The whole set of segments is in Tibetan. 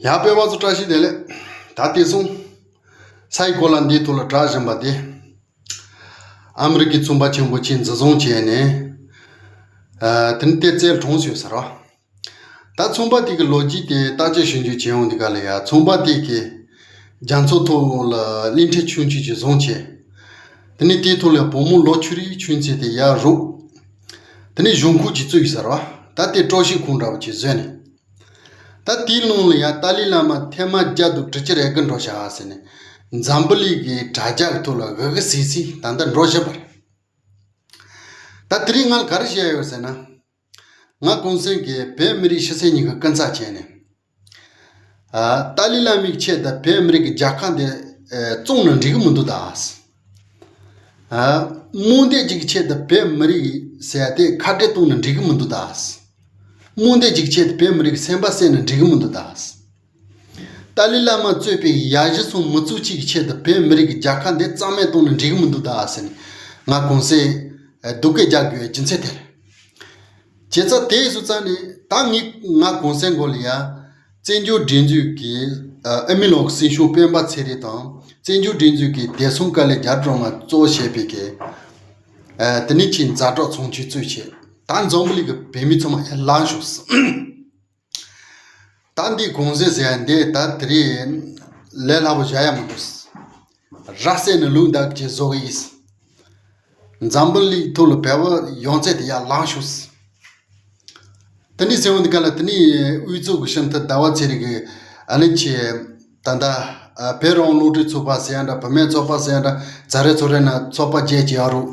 ཡང་སྤེལ་བ་ཚོ་བཀྲ་ཤིས་བདེ་ལེགས། ད་དེ་སོང། ས་ཡི་གོ་ལ་འདིའི་ཐོག་ལ་གྲགས་བཞིན་པ་དེ། ཨ་མི་རི་ཀའི་རྩོམ་པ་ཆེན་པོ་ཆེས་འཛིན་བཟུང་བྱས་ནས། དེ་ནི་ལྟེ་རྩལ་གྲོངས་ཞེས་ཟེར་རོ། ད་རྩོམ་པ་དེ་གི་ལོ་རྒྱུས་དེ་བརྟག་དཔྱད་ཞིབ་འཇུག་བྱེད་འོང་དུས་ག་ལ་ཡ་རྩོམ་པ་དེ་གི། རྒྱ་མཚོ་ཐོག་ལ་གླིང་ཕྲན་ཆུང་ཆུང་ཞིག་བཟུང་བྱས། དེ་ནི་དེའི་ཐོག་ལ་བུ་མོ་ལོ་ཆུ་རིའི་ཆུ་མཚེས་དེ་ཡར་རུག། དེ་ནི་གཞུང་ཁུག་ཅིག་བཙུགས་ཟེར་རོ། ད་དེ་སྤྲོ་གཞིས་ཁུག་འདྲ་བོ་ཅིག་བཟོས་ནས། ད་དེའི་ཀློང་ལ་ཡང་ཏཱ་ལའི་བླ་མ་ཐལ་མ་རྒྱ་དུ་དྲི་ཆིར་ཨེ་ཀི་འགྲོ་བྱ་ཟེར་ནས་འཛམ་བུ་ལི་གི་དྲ་རྒྱར་ཐུག་ལ་ཧི་ཧི་སི་སི་ད་ལྟ་འགྲོ་བཞིན་པ་རེད། ད་དེ་རིང་ང་ག་རེ་བྱས་ཡོད་ཟེར་ན། ང་གུང་སེང་གེས་བོད་མི་རིགས་ཕྱི་གསལ་གཉིས་ཀྱི་སྐུ་འཚག་བྱས་ནས། ཏཱ་ལའི་བླ་མིག་ཕྱེས་ད་བོད་མི་རིགས་ཀྱི་རྒྱལ་ཁ་འདི་བཙོང་ན་འགྲིག་གི་མི་འདུག་ད། རྨོངས་དད་ཅིག་གི་ཆེད་དུ་བོད་མི་རིགས་ཟས་དེ་ཁ་བྲལ་གཏོང་ནས་འགྲིག་གི་མི་འདུག་ད། རྨོངས་དད་ཅིག་གི་ཆེད་དུ་བོད་མི་རིགས་སེམས་པ་བསད་ནས་འགྲིག་གི་མི་འདུག་ད། ཏཱ་ལི་བླ་མ་གཙོས་པའི་ཡ་གཞི་ཚོ་མི་ཚུགས་གཅིག་གི་ཆེད་དུ་བོད་མི་རིགས་ཀྱི་རྒྱལ་ཁ་འདི་གཙང་མས་གཏོང་ནས་འགྲིག་གི་མི་འདུག་ད་ཟེར་ནས་ང་གོང་གསལ་སྡུག་སྐད་རྒྱག་དགོས་སྦྱིན་ཚེ་ཐལ། བྱས་ཙང་དེས་སུ་རྩ་ནས་ད་ངས་ང་གོང་གསལ་མགོ་ལ་ཡ། བཙན་བྱོལ་སྒྲིག་འཛུགས་ཀྱི་ཨ་མི་ལོག་སྲིད་གཞུང་སྤེན་པ་ཚེ་རིང་དང་བཙན་བྱོལ་སྒྲིག་འཛུགས་ཀྱི་བདེ་སྲུང་དཀའ་ལས་རྒྱ་སྒྲོག་ང་གཙོ་བྱས་པའི་རྒྱལ། དེ་ནི་ཆེས་མཛའ་གྲོགས་ཚོང་ཆུས་གཙོས་ཆེ་ད་འཛོམས་པོ་ལི་གི་བོད་མི་ཚོ་མ་ཡར་ལངས་ཤོགས། ད་འདི་གོང་ཟེར་ཟེར་ཡ་འདས་ད་དེ་རིང་ལས་སླ་པོ་བཞག་ཡ་མི་འདུག། ར་བསད་ནས་ལུག་འདབས་ཀྱི་བཟོ་གི་ཡིས། འཛམ་བུ་གླིག་ཐུག་ལ་བལ་བོ་ཡོང་ཚད་དེ་ཡར་ལངས་བཞུགས། དེ་ནས་སེ་འོན་དགའ་ལ་དེ་ནས་དབུས་གཙུག་གི་ཤམ་ཐབས་ཟླ་བ་ཚེ་རིང་གི་ཨ་ལེན་ཆེ། ད་ལྟ་བེ་རོང་ཀླུ་བྲེ་ཚུགས་པ་ཟེར་ཡ་འདྲ་བུ་མེད་ཚོགས་པ་ཟེར་ཡ་འདྲ་རྫ་རེ་ཚོ་རེ་ན་ཚོགས་པ་བརྒྱད་ཅི་ཡང་རུག།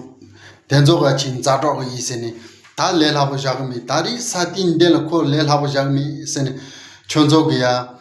དེ་ཚོ་ག་ཕྱིན་མཛའ་གྲོགས་གི་ཡིས་ཟེར་ནས་ད་ལས་སླ་པོ་བཞག་གི་མེད་ད་རིག་ས་ཏིན་འདི་ལ་ཁོ་ལས་སླ་པོ་བཞག་གི་མེད་ཟེར་ནས་ཁྱོད་ཚོ་གི་ཡ།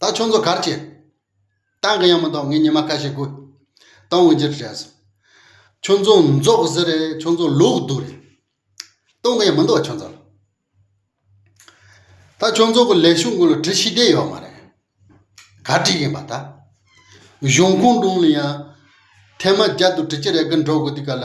ད་ཁྱོད་ཚོ་གར་སྐྱེལ། ཏང་གི་ཡང་མི་འདུག་ངས་ཉི་མ་ཁ་ཤས་དགོས། ཏང་དབུས་འབྱེད་དྲན་སོང། ཁྱོད་ཚོ་འཛོག་ཟེར་རེད་ཁྱོད་ཚོ་ལོག་སྡུག་རེད། ཏང་གི་ཡང་མི་འདུག་ཁྱོད་ཚོ་ལ། ད་ཁྱོད་ཚོ་གི་ལས་ཞུགས་འགོ་ལ་བྲི་ཤེས་བསྡད་ཡོད་མ་རེད། ག་བྲིས་ཡིན་པ་ད། གཞུང་ཁོངས་དྲུང་ལ་ཡང་ཐེངས་མ་བརྒྱ་དུ་བྲི་གྱི་རེད་གི་འགྲོ་གི་འདུག་ག་ལ།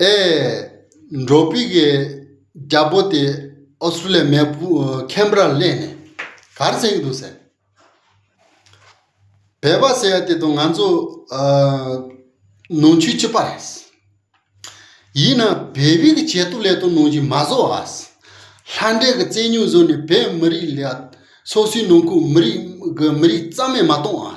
ཨེ། འབྲོག་པི་གའི་རྒྱ་པོ་དེ་ཨོ་སི་ཀྲུ་ལི་ཡའི་མེ་ཕུ་ཁེམ་ར་གླེང་ནས་གར་བསད་ཀྱི་འདུག་ཟེར། བལ་པ་ཟེར་ཡ་དེ་དང་ང་ཚོ་ནང་ཆོས་གཅིག་པ་རེད། ཡིན་ན་བལ་བི་གི་བྱེད་ཐུབ་ལས་དོན་ནང་བཞིན་མ་བཟོ་ཨ། ལྷ་འདྲེ་གི་རྩལ་སྙུག་བཟོས་ནས་བལ་མི་རིགས་ལ་སོ་སོའི་ནང་ཁུལ་མི་རིགས་གི་མི་རིགས་རྩ་མེད་མ་གཏོང་ཨ།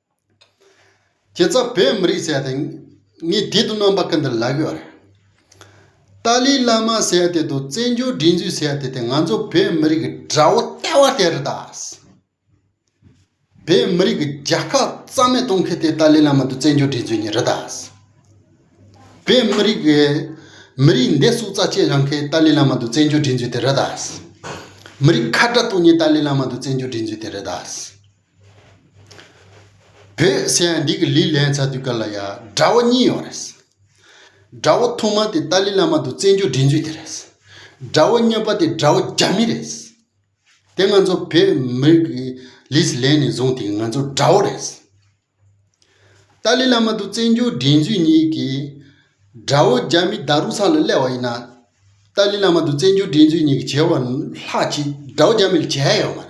ཁྱེད་ཚ་བོད་མི་རིགས་ཟེར་ཏེ་ངས་བདེ་དུ་གནང་པ་ཀི་འདི་ལབ་ཡོད། ཏཱ་ལའི་བླ་མ་ཟེར་དེ་དང་བཙན་བྱོལ་སྒྲིག་འཛུགས་ཟེར་དེ་དེ་ང་ཚོ་བོད་མི་རིགས་ཀྱི་དགྲ་བོ་ལྟ་བ་དེ་རེད་ད། བོད་མི་རིགས་ཀྱི་རྒྱལ་ཁ་རྩ་མེད་གཏོང་མཁན་དེ་ཏཱ་ལའི་བླ་མ་དང་བཙན་བྱོལ་སྒྲིག་འཛུགས་གཉིས་རེད་ད། བོད་མི་རིགས་ཀྱི་མི་རིགས་འདས་གསུག་རྩ་ཆེ་བཞག་མཁན་ཏཱ་ལའི་བླ་མ་དང་བཙན་བྱོལ་སྒྲིག་འཛུགས་དེ་རེད་ད། མི་རིགས་ཁ་བྲལ་གཏོང་མཁན་ཏཱ་ལའི་བླ་མ་དང་བཙན་བྱོལ་སྒྲིག་འཛུགས་དེ་རེད་ད། བོད་ཟེར་ཡང་འདི་གི་ལི་ལན་ཚ་དུས་སྐབས་ལ་ཡ་དགྲ་བོ་གཉིས་ཡོད་རེད། དགྲ་བོ་ཐོག་མ་དེ་ཏཱ་ལི་བླ་མ་དུ་བཙན་བྱོལ་སྒྲིག་འཛུགས་དེ་རེད། དགྲ་བོ་གཉིས་པ་དེ་དགྲ་བོ་རྒྱ་མི་རེད། དེ་ང་ཚོ་བོད་མི་རིགས་ཀྱི་ལིས་ལན་ནས་བཟུང་དེ་ང་ཚོ་དགྲ་བོ་རེད། ཏཱ་ལི་བླ་མ་དུ་བཙན་བྱོལ་སྒྲིག་འཛུགས་གཉིས་ཀྱི་དགྲ་བོ་རྒྱ་མི་དག་རུ་ཚང་ལ་གླེ་བ་ཡིན་ན། ཏཱ་ལི་བླ་མ་དུ་བཙན་བྱོལ་སྒྲིག་འཛུགས་གཉིས་ཀྱི་བྱེད་བ་ལྷག་ཅིག་དགྲ་བོ་རྒྱ་མི་ལ་བྱས་ཡོད་མ་རེད།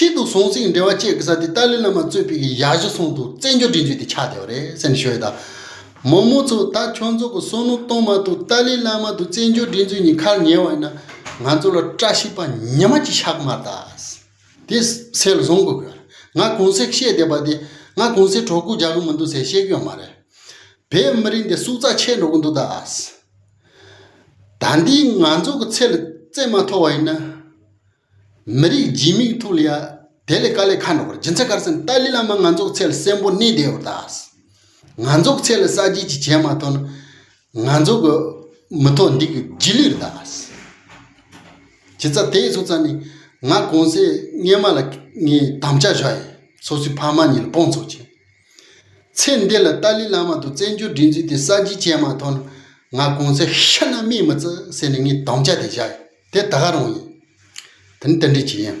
ཆེད་དུ་ཟོང་ཟིང་འབྲེལ་བ་བཅད་དགོས་ས་དེ་ཏཱ་ལའི་བླ་མ་གཙོས་པའི་གཞའ་གཞུ་ཚོགས་འདུ་བཙན་བྱོལ་འབྲེལ་འཇུག་དེ་ཆགས་བསྡད་པ་རེད་སེམས་ཤོད་ད། མོ་མོ་ཚོ་ད་ཁྱོད་ཚོ་གི་བསོད་ནོར་གཏོང་མ་ཐུབ་ཏཱ་ལའི་བླ་མ་དང་བཙན་བྱོལ་འབྲེལ་འཇུག་གཉིས་ཁར་ཉེ་བ་ཡིན་ན་ང་ཚོ་ལ་བཀྲ་ཤིས་པ་ཉི་མ་གཅིག་ཞག་མར་དྭགས་དེ་སེལ་བཟུང་དགོས་གི་ང་གོང་གསལ་བཤད་བསྡད་པ་དེ་ང་གོང་གསལ་གྲོགས་སྐུ་རྒྱག་གི་མི་འདུག་ཟེར་བཤད་གི་ཡོད་མ་རེད་བོད་མི་རིགས་འདི་སུག་རྩ་ཆད་འགྲོ་གི་འདུག་དྭགས། ད་འདིས་ང་ཚོ་གི་ཚེ་ལ་བརྩེ་མ་ཐོ་བ་ཡིན་ན། མི་རིགས་སྦྱིན་མིག་ཐུག་ལ་ཡ་དེ་ལས་ཀ་ལས་ཁ་འགྲོ་གི་རེད་སྦྱིན་ཚེ་གར་སེམས་ཏཱ་ལི་བླ་མ་ང་ཚོ་གི་ཚེ་ལ་སྲས་འབོ་གནས་བདེ་བོར་ད་ང་ཚོ་གི་ཚེ་ལ་གསར་བརྗེ་གཅིག་བྱས་མ་ཐོ་ན་ང་ཚོ་གི་མི་ཐོ་འདི་གི་རྗེས་ལུས་རེད་ད་བྱས་ཚ་དེ་སོ་ཚ་ནི་ང་གོང་སའི་སྔས་མ་ལ་ངའི་དམ་བཅའ་བཞག་ཡིན་སོ་སོའི་ཕ་མ་གཉིས་ལ་དཔུང་ཚོགས་བྱས། ཚེ་འདི་ལ་ཏཱ་ལི་བླ་མ་དང་བཙན་བྱོལ་སྒྲིག་འཛུགས་དེ་གསར་བརྗེ་བྱས་མ་ཐོག་ན་ང་གོང་ས་ཤི་ན་སྨྲས་མི་བརྩི་ཟེར་ནས་ངས་དམ་བཅའ་དེ་བཞག་ཡིན་དེ་ད་ག་རང་ཡིན། དེ་ནི་དེ་འདྲའི་བྱེད་ཡིན།